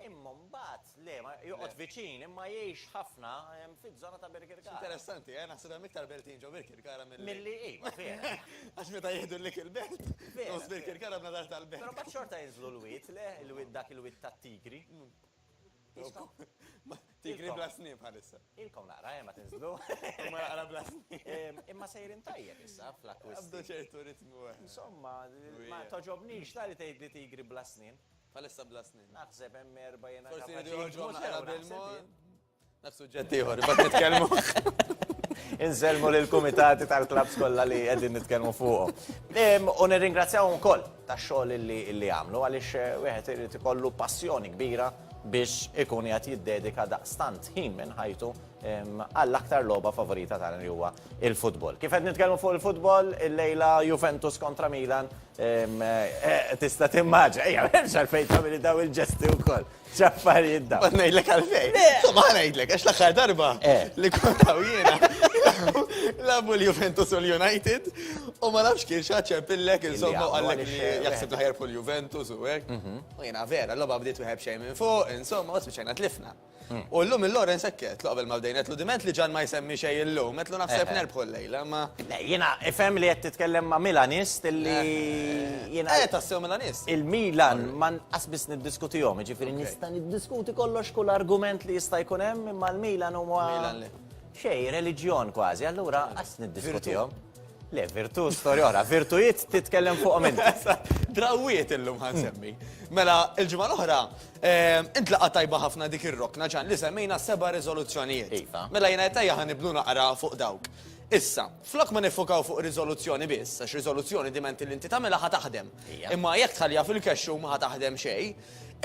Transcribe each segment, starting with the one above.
Imma mbagħad le, ma joqgħod viċin, imma jgħix ħafna fiż-żona ta' Birkirkara. X'interessanti, eh? Naħseb hemm iktar Beltin ġo Birkirkara milli. Milli, iva, vera. Għax meta jieħdu l-Lik il-Belt, nofs Birkirkara bnadar tal-Belt. Però mbagħad xorta jinżlu l-wied, le? Il-wied dak il-wied tat-tigri. Tigri bla snien bħalissa. Ilkom naqra, eh, ma tinżlu. Imma naqra bla snien. Imma sejrin tajjeb issa fl-akkwisti. Qabdu ċertu ritmu, eh. Insomma, ma togħġobnix, tali tgħidli tigri bla snien. Bħalissa bla snien. Naħseb hemm erba' jiena Forsi jridu joħorġuhom naqra bil-mod. Naf suġġett ieħor, imbagħad nitkellmu. Insellmu lill-kumitati tal-klabbs kollha li qegħdin nitkellmu fuqhom. U nirringrazzjahom ukoll tax-xogħol li għamlu għaliex eh, wieħed irid ikollu passjoni kbira biex ikun qed jiddedika daqstant ħin minn ħajtu għall-aktar logħba favorita tagħna li huwa il-futbol. Kif qed nitkellmu fuq il-futbol, il-lejla Juventus kontra Milan eh, tista' timmaġa, ejja, hemmx għalfejn tagħmel daw il-ġesti wkoll. X'affarijiet daw. Ma ngħidlek għalfejn. Insomma ngħidlek għax l-aħħar darba eh. li kont jiena labu l-Juventus u l-United u ma nafx kien xaċċer pillek insomma għallek li jaħseb l-ħajr fuq l-Juventus u hekk. Mhm. U jiena vera, l-logħba bdiet wieħed xejn minn fuq, insomma, u spiċċajna tlifna. U llum il-Lawrence hekk għedtlu qabel ma bdejna, għedtlu diment li Ġan ma jsemmi xejn illum, għedtlu naħseb nerbħu llejla, imma. Le, jiena ifhem li qed titkellem ma' Milanist illi jiena. Le, tassew Milanist. Il-Milan ma nqas biss niddiskutihom, jiġifieri nista' niddiskuti kollox kull argument li jista' jkun hemm imma l-Milan huwa. Milan li. Xejn, reliġjon kważi, allura qas niddiskutihom. Le, virtu, storja oħra. Virtujiet titkellem fuq minn. Drawiet illum ħan semmi. Mela, il-ġimgħa l-oħra, ehm, intlaqa tajba ħafna dik ir-rokna ġan li semmejna seba' riżoluzzjonijiet. Iva. Mela jiena tajja ħan nibnu naqra fuq dawk. Issa, flok ma nifokaw fuq riżoluzzjoni biss, għax riżoluzzjoni diment li inti tagħmilha ħa taħdem. Imma jekk tħallija fil-kexxu ma ħa taħdem xejn,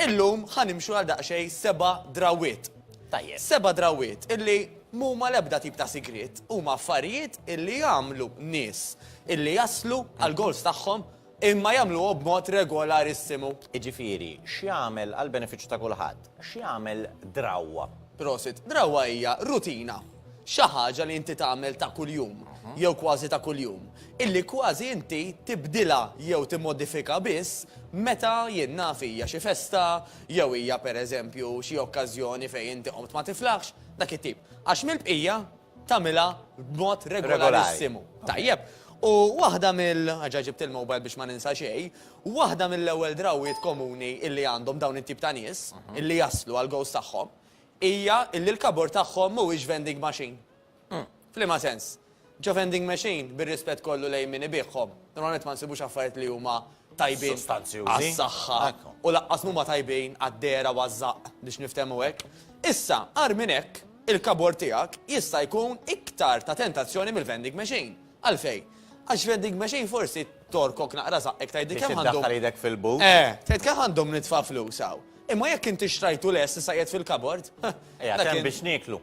illum ħanimxu għal daqsxejn seba' drawiet. Tajjeb. Seba' drawwiet illi m'huma l-ebda tip ta' sigriet, huma affarijiet illi jagħmlu nies illi jaslu għall-goals tagħhom imma jagħmluhom b'mod regolarissimu. Jiġifieri, x'jagħmel, għall-benefiċċju ta' kulħadd, x'jagħmel drawwa? Prosit. Drawwa hija rutina, xi ħaġa li inti tagħmel ta' kuljum, jew kważi ta' kuljum, illi kważi inti tibdilha jew timmodifika biss meta jien naf hija xi festa, jew hija pereżempju xi okkażjoni fejn inti qomt ma tiflaħx, dak it-tip. Għax mill-bqija tagħmilha b'mod regolarissimu. Tajjeb. U waħda mill-, ġa ġibt il-mobile biex ma ninsa xejn, waħda mill-ewwel drawwiet komuni illi għandhom dawn it-tip ta' nies, illi jaslu għall-gowls tagħhom, hija illi l-kabord tagħhom mhuwiex vending machine. Hm, f'liema sens? Ġo vending machine, bir-rispett kollu lejn min ibiegħhom, normalment ma nsibux affarijiet li huma tajbin għas-saħħa u lanqas mhuma tajbin għad-dehra u għaż-żaqq biex niftehmu hekk. Issa, agħar minn hekk, il-kabord tiegħek jista' jkun iktar ta' tentazzjoni mill-vending machine. Għalfejn? Għax vending machine forsi torkok naqra żaqqek tgħidli kemm għandhom. Biex iddaħħal idek fil-but. Eh, tgħid kemm għandhom nitfa' flus hawn. Imma jekk inti xtrajtu lest issa qiegħed fil-kabord. Qiegħed hemm biex nieklu.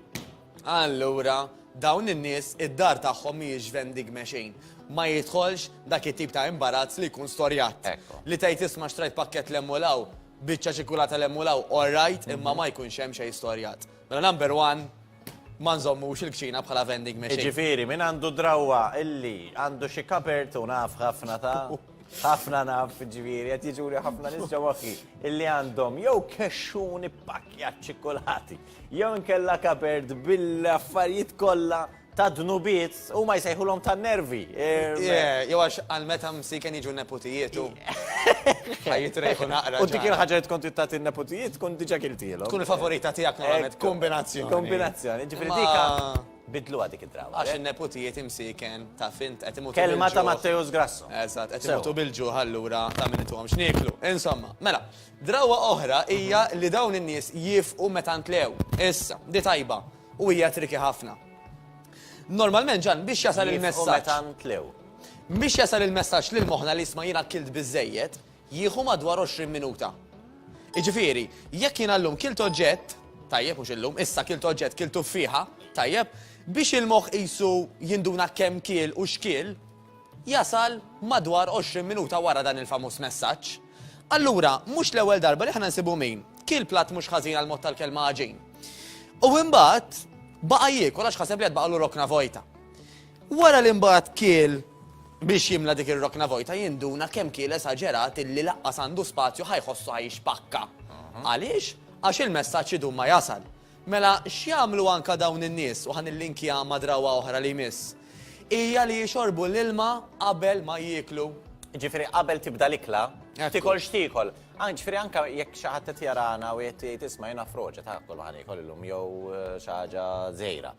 Allura, dawn in-nies id-dar tagħhom mhijiex vendigme xejn. Ma jidħolx dak it-tip ta' imbarazz li jkun storjat. Li tgħid isma' xtrajt pakkett l hemm u l hawn, biċċa ċikkulata l hemm u l hawn, all right, imma ma jkunx hemm xejn storjat. Mela number one, ma nżommux il-kċina bħala vendigme xejn. Jiġifieri, min għandu drawwa illi għandu xi cupboard, u naf ħafna ta', ħafna naf, jiġifieri, qed jiġuli ħafna nies ġo moħħi, illi għandhom jew kexxun ippakkjat ċikkulati, jew inkella kapert bil-affarijiet kollha ta' dnubiet u ma jsejħulhom ta' nervi. Jew għax għal meta msiken jiġu neputijietu. Ħajjit rejħu naqra. U dik il-ħaġa tkun tittat il-neputijiet tkun diġa kiltilu. Tkun il-favorita tiegħek normalment. Kombinazzjoni. Kombinazzjoni. Ġifieri dika bidlu għadik id-draw. Għax il-neputijiet imsiken ta' fint qed imutu. Kelma ta' Matteus Grasso. Eżatt, qed imutu bil-ġuħ allura ta' min ituhom x'nieklu. Insomma, mela. Drawwa oħra hija li dawn in-nies jiefqu meta ntlew. Issa, di tajba, u hija tricky ħafna. Normalment Ġann biex jasal il-messaġġ. Jiefqu meta ntlew. Biex jasal il-messaġġ lil moħħna li jisma' jien akkilt biżżejjed, jieħu madwar 20 minuta. Jiġifieri, jekk jiena llum kilt oġġett, tajjeb mhux illum, issa kilt oġġett, kilt tuffieħa, tajjeb, biex il-moħħ qisu jinduna kemm kiel u x'kiel, jasal madwar 20 minuta wara dan il-famuż messaġġ. Allura, mhux l-ewwel darba li aħna nsibu min kiel platt mhux ħażin għall-mod tal-kelma għaġin. U imbagħad baqa' jiekol għax ħaseb li qed baqgħulu rokna vojta. Wara li mbagħad kiel biex jimla dik ir-rokna vojta jinduna kemm kiel esaġerat illi laqqas għandu spazju ħa jħossu ħa jixpakka. Għaliex? Għax il-messaġġ idum ma jasal. Mela x'jagħmlu anke dawn in-nies, u ħa nillinkja ma' drawwa oħra li jmiss, hija li jixorbu l-ilma qabel ma jieklu. Jiġifieri qabel tibda l-ikla, tiekol x'tiekol. Anke, jiġifieri anke jekk xi ħadd qed jarana u qed jgħid isma' jiena froġa, ta' kollox ħa niekol illum jew xi ħaġa żgħira.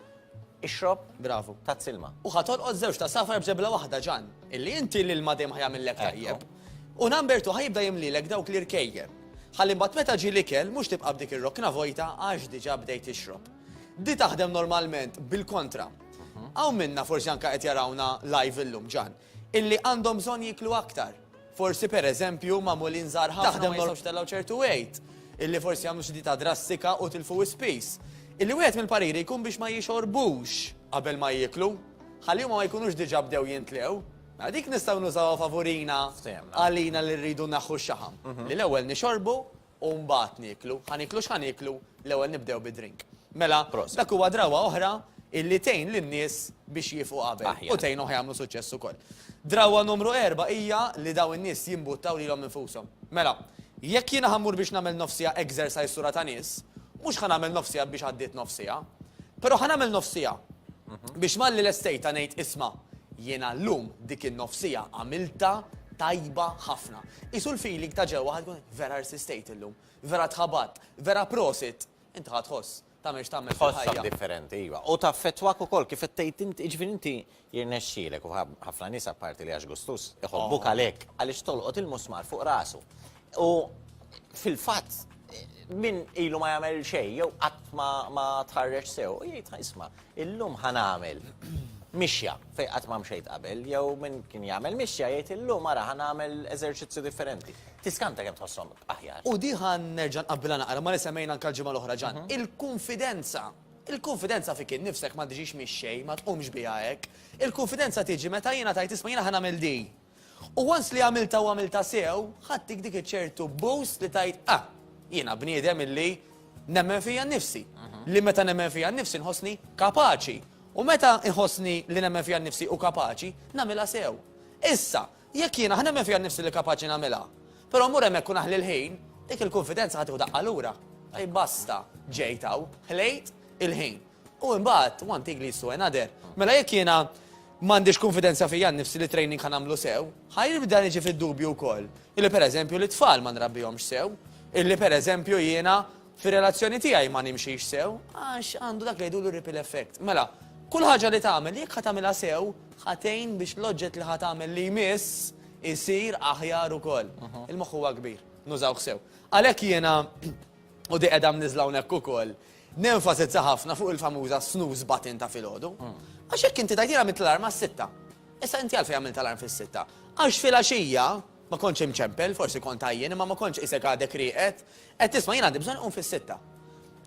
Ixrob, bravu, tazz ilma. U ħa tolqot żewġ ta' safar b'żebla waħda, Ġan. Illi inti l-ilma dejjem ħa jagħmillek tajjeb. U number two ħa jibda jimlilek dawk l-irkejjel. Ħalli mbagħad meta ġie l-ikel mhux tibqa' b'dik ir-rokna vojta għax diġà bdejt tixrob. Di taħdem normalment bil-kontra. Hawn minna forsi anke qed jarawna live illum, Ġan. illi għandhom bżonn jieklu aktar. Forsi pereżempju magħmulin żgħar ħafna taħdem ma jistgħux jtellgħu ċertu weight, illi forsi jagħmlu xi dieta drastika u tilfu wisq piż. Illi wieħed mill-pariri jkun biex ma jixorbux qabel ma jieklu, ħalli huma ma jkunux diġà bdew jintlgħu. Mela dik nistgħu nużawha favurina għalina li rridu naħħu x-xaħam. Li l-ewwel nixorbu u mbagħad nieklu. Ħa nieklu x'ħa nieklu? L-ewwel nibdew bid-drink. Mela, dak huwa drawwa oħra illi tgħin lin-nies biex jiefqu qabel u tgħinhom jagħmlu suċċess ukoll. Drawwa numru erba' hija li dawn in-nies jimbuttaw lilhom infushom. Mela, jekk jiena ħa mmur biex nagħmel nofs siegħa exercise sura ta' nies, mhux ħa nagħmel nofs siegħa biex għaddiet nofs siegħa. Però ħa nagħmel nofs siegħa biex malli lestejtha ngħid isma' jiena llum dik in-nofs siegħa għamiltha tajba ħafna. Qisu l-feeling ta' ġewwa ħa tkun Vera rsistejt illum. Vera tħabatt. Vera prosit. Inti ħa tħoss. Tagħmel x'tagħmel fil-ħajja. Tħossok differenti, iva. U taffettwak ukoll kif qed tgħid int, jiġifieri inti jirnexxielek u ħafna nies apparti li għax gustuż, iħobbuk għalhekk, għaliex tolqot il-musmar fuq rasu. U fil-fatt min ilu ma jagħmel xejn jew qatt ma tħarreġ sew, jgħid isma' illum ħa nagħmel mixja fejn qatt ma mxejt qabel jew min kien jagħmel mixja jgħid illum ara ħa nagħmel eżerċizzju differenti. Tiskanta kemm tħosshom aħjar. U di ħa nerġa' nqabbilha naqra ma' li semmejna anke l-ġimgħa l-oħra Ġan. Il-kunfidenza. Il-kunfidenza fik innifsek ma tiġix mix-xejn, ma tqumx biha hekk. Il-kunfidenza tiġi meta jiena tgħid isma' jiena ħa nagħmel di. U once li għamiltha u għamiltha sew, ħadtik dik iċ-ċertu boost li tgħid ah, jiena bniedem illi nemmen fija nnifsi. Li meta nemmen fija nnifsi nħossni kapaċi. U meta nħossni li nemmen fija nnifsi u kapaċi, nagħmilha sew. Issa, Jekk jien aħ nemmen fija nnifsi li kapaċi nagħmilha, però mmur hemmhekk u naħli l-ħin, dik il-kunfidenza ħa tieħu daqqa lura. Tajjeb basta, ġejt hawn, ħlejt il-ħin. U imbagħad, one thing leads to another. Mela jekk jiena m'għandix kunfidenza fija nnifsi li t-training ħa nagħmlu sew, ħa jibda niġi fid-dubju wkoll illi pereżempju lit-tfal ma nrabbihomx sew, illi pereżempju jiena Fir-relazzjoni tiegħi ma nimxix sew għax għandu dak li jgħidulu ripple effect. Mela, kull ħaġa li tagħmel, jekk ħa tagħmilha sew, ħa tgħin biex l-oġġett li ħa tagħmel li jmiss isir aħjar ukoll. Il-moħħ huwa kbir, nużawh sew. Għalhekk jiena, u di qiegħda mniżżla hawnhekk ukoll, nenfasizza ħafna fuq il-famuża snooze button ta' filgħodu. Għax jekk inti tgħid jiena għamilt l-alarm għas-sitta, issa inti għalfejn għamilt alarm fis-sitta? Għax filgħaxija ma kontx imċempel, forsi kont għajjien, imma ma kontx qisek għadek rieqed, Qed tisma' jien għandi bżonn inqum fis-sitta.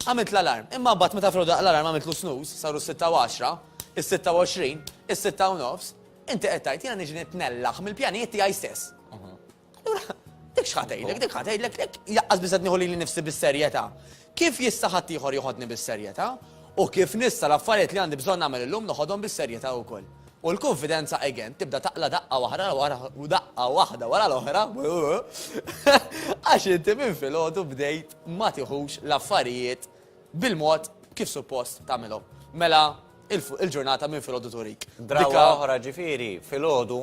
Għamilt l-alarm, imma mbagħad meta filgħodu daqq l-alarm għamiltlu snooze, saru s-sitta u għaxra, is-sitta u għoxrin, is-sitta u nofs, inti qed tgħid jiena niġi nitnellaħ mill-pjanijiet tiegħi stess. Allura, dik x'ħa tgħidlek, dik ħa tgħidlek, dik laqqas biss qed nieħu lili nnifsi bis-serjetà. Kif jista' ħaddieħor joħodni bis-serjetà? U kif nista' l-affarijiet li għandi bżonn nagħmel illum noħodhom bis-serjetà wkoll? U l-kunfidenza again tibda taqla' daqqa waħda wara u daqqa waħda wara l-oħra għax inti minn filgħodu bdejt ma tiħux l-affarijiet bil-mod kif suppost tagħmilhom. Mela il-ġurnata minn filgħodu turik. Drawwa oħra ġifieri filgħodu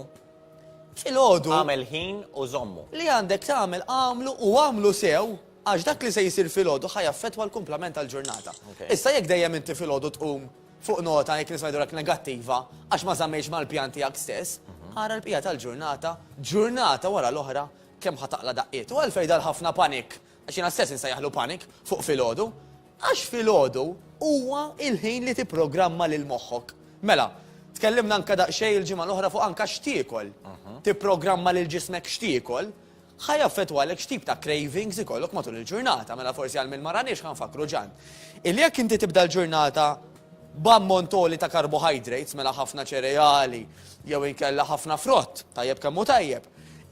Filgħodu. Għamel ħin u żommu. Li għandek tagħmel għamlu u għamlu sew għax dak li se jsir filgħodu ħa jaffettwa l-kumplament tal-ġurnata. Issa jekk dejjem inti filgħodu tqum Fuq nota jekk nisma' jidhurlek negattiva għax ma żammejtx mal-pjan tiegħek stess, ara l-bqija tal-ġurnata, ġurnata wara l-oħra, kemm ħa taqla' daqqiet. U għalfejn dan ħafna panic, għax jiena stess insejjaħlu panic, fuq filgħodu? Għax filgħodu huwa l-ħin li tipprogramma lil moħħok. Mela, tkellimna anke daqsxejn il-ġimgħa l-oħra fuq anke x'tiekol. Tipprogramma lil ġismek x'tiekol, Ħa jaffettwa għalhekk x'tip ta' cravings ikollok matul il-ġurnata. Mela forsi għal min ma raniex ħa nfakkru ġan. Illi jekk inti tibda l-ġurnata b'ammont għoli ta' carbohydrates, mela ħafna ċereali jew inkella ħafna frott, tajjeb kemm hu tajjeb,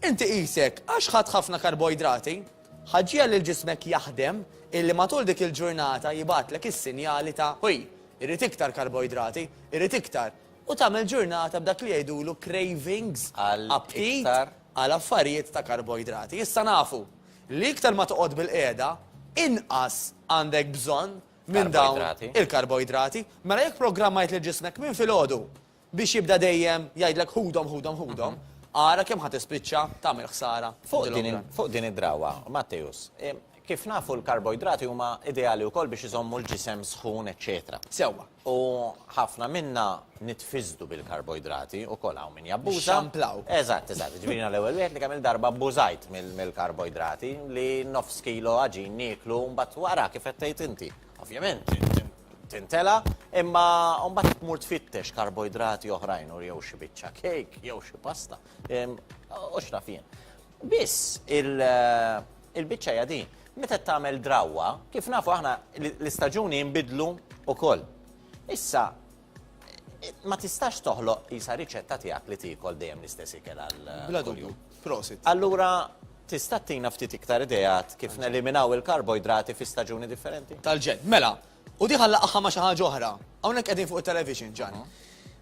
inti qisek għax ħadt ħafna karboidrati, ħa ġġiegħel lil ġismek jaħdem illi matul dik il-ġurnata jibgħatlek is-sinjali ta' ħuj, irrid iktar karboidrati, irrid iktar, u tagħmel ġurnata b'dak li jgħidulu cravings, aptit, għal affarijiet ta' karboidrati. Issa nafu li iktar ma toqgħod bilqiegħda, inqas għandek bżonn minn dawn il-karboidrati. Mela jekk programmajt lil ġismek minn filgħodu biex jibda dejjem jgħidlek ħudhom, ħudhom, ħudhom, ara kemm ħa tispiċċa tagħmel ħsara. Fuq din id-drawwa, Matteus, Kif nafu l-karboidrati huma ideali wkoll biex iżommu l-ġisem sħun eċċetera. Sewwa. U ħafna minna nitfiżdu bil-karboidrati wkoll hawn min jabbuża. Nixxamplaw. Eżatt, eżatt. Jiġifieri jiena l-ewwel wieħed li kemm-il darba abbużajt mill-karboidrati li nofs kilo għaġin nieklu u mbagħad wara kif qed tgħid inti. Ovvjament tintela' imma mbagħad tmur tfittex karboidrati oħrajn u jew xi biċċa kejk jew xi pasta u x'naf jien. Biss il-biċċa hija din, meta qed tagħmel drawwa, kif nafu aħna l-istaġuni jinbidlu wkoll. Issa ma tistax toħloq isa riċetta tiegħek li tiekol dejjem l-istess ikel għal. Bla dubju, prosit. Allura tista' tina ftit iktar ideat kif neliminaw il-karboidrati fi staġuni differenti? Tal-ġen. Mela, U di ħallaqha ma' xi ħaġa oħra. Hawnhekk qegħdin fuq it-television, Ġan.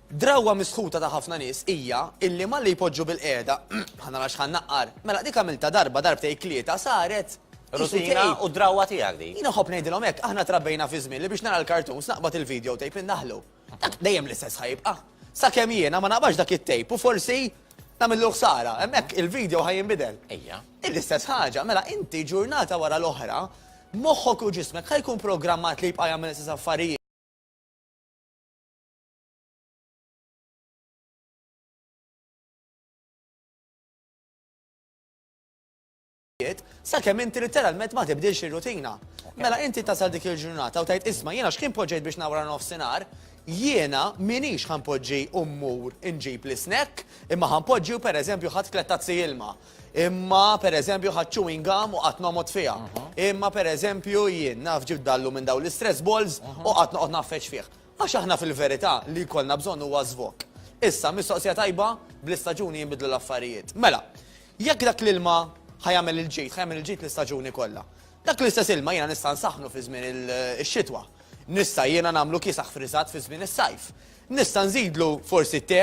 Drawwa misħuta ta' ħafna nies hija illi malli jpoġġu bil-qiegħda, ħa nara x'ħa nnaqqar, mela dik għamiltha darba, darbtejn, tlieta, saret Rutina u drawwa tiegħek din. Jien inħobb ngħidilhom hekk, aħna trabbejna fi żmien li biex nara l-cartoons naqbad il-video tape indaħħlu. Dak dejjem l-istess ħajibqa'. Sakemm jiena ma naqbadx dak it-tape u forsi nagħmillu ħsara. Hemmhekk il-video ħa jinbidel. Ejja. Hi l-istess ħaġa. Mela inti ġurnata wara l-oħra, moħħok u ġismek ħa jkun programmat li jibqa' jagħmel l-istess affarijiet. ħajjiet, sakemm inti litteralment ma tibdilx ir-rutina. Mela inti tasal dik il-ġurnata u tgħid isma' jiena x'kien poġġejt biex nawra nofsinhar, jiena minix ħanpoġġi u mmur inġib l-isnekk, imma ħanpoġġi u pereżempju ħadt tlett tazzi ilma, imma pereżempju ħadt chewing gum u qatt noqgħod fiha, imma pereżempju jien naf ġibt dallu minn dawn l-istress balls u qatt noqgħod nagħfeġ fih. Għax aħna fil-verità li jkollna bżonn huwa żvog. Issa, mistoqsija tajba, bl-istaġuni jinbidlu l-affarijiet. Mela, Jekk dak l-ilma ħa jagħmel il-ġid, ħa jagħmel il-ġid l-istaġuni kollha. Dak l-istess ilma jiena nista' nsaħħnu fi żmien ix-xitwa. Nista' jiena nagħmlu kiesaħ friżat fi żmien is-sajf. Nista' nżidlu forsi te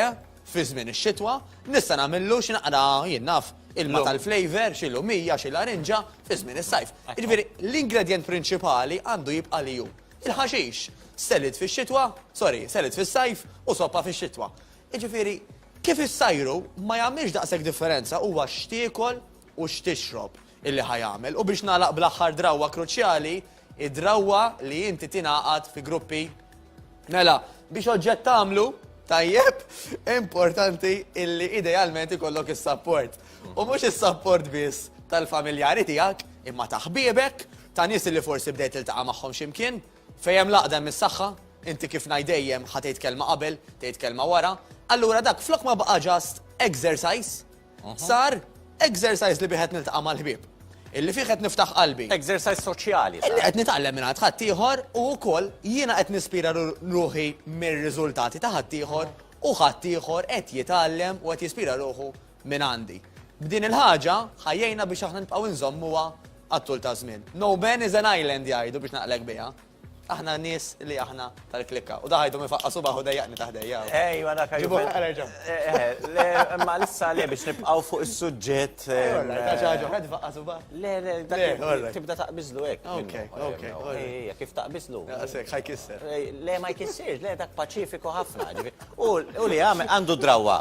fi żmien ix-xitwa. Nista' nagħmillu xi naqra, jien naf, ilma tal-flavour, xi lumija, xi larinġa, fi żmien is-sajf. Jiġifieri, l-ingredjent prinċipali għandu jibqa' li hu. Il-ħaxix, salad fix-xitwa, sorry, salad fis-sajf u soppa fix-xitwa. Jiġifieri, kif issajru ma jagħmilx daqshekk differenza huwa x'tiekol u x'tixrob illi ħa jagħmel. U biex nagħlaq bl-aħħar drawwa kruċjali, id-drawwa li inti tingħaqad fi gruppi. Mela, biex oġġett tagħmlu tajjeb, importanti illi idealment ikollok is-sapport. U mhux is-sapport biss tal-familjari tiegħek, imma ta' ħbiebek, ta' nies illi forsi bdejt tiltaqa' magħhom xi mkien. Fejn hemm l-għaqda hemm is-saħħa, inti kif ngħid dejjem ħa tgħid kelma qabel, tgħid kelma wara, allura dak flok ma baqa' just exercise, sar exercise li bih qed niltaqa' mal-ħbieb. Illi fih qed niftaħ qalbi. Exercise soċjali. Illi qed nitgħallem minn għand ħaddieħor u wkoll jiena qed nispira ruħi mir-riżultati ta' ħaddieħor u ħaddieħor qed jitgħallem u qed jispira ruħu mingħandi. B'din il-ħaġa, ħa jgħinna biex aħna nibqgħu nżommuha għat-tul ta' żmien. No man is an island jgħidu biex naqlek biha. Aħna nies li aħna tal-klikka. U daħajtu minn faqqa subaħ u dejjaqni taħdejja. Ejwa dak Ġibu ħareġa. Imma lissa le biex nibqgħu fuq is-suġġett. Ta' xi ħaġa ħed faqqa subaħ. Le, le, dak tibda taqbiżlu hekk. Ok, ok. Ejja, kif taqbiżlu? Daqshekk ħaj kisser. Le ma jkissirx, le dak paċifiku ħafna. U li għandu drawwa.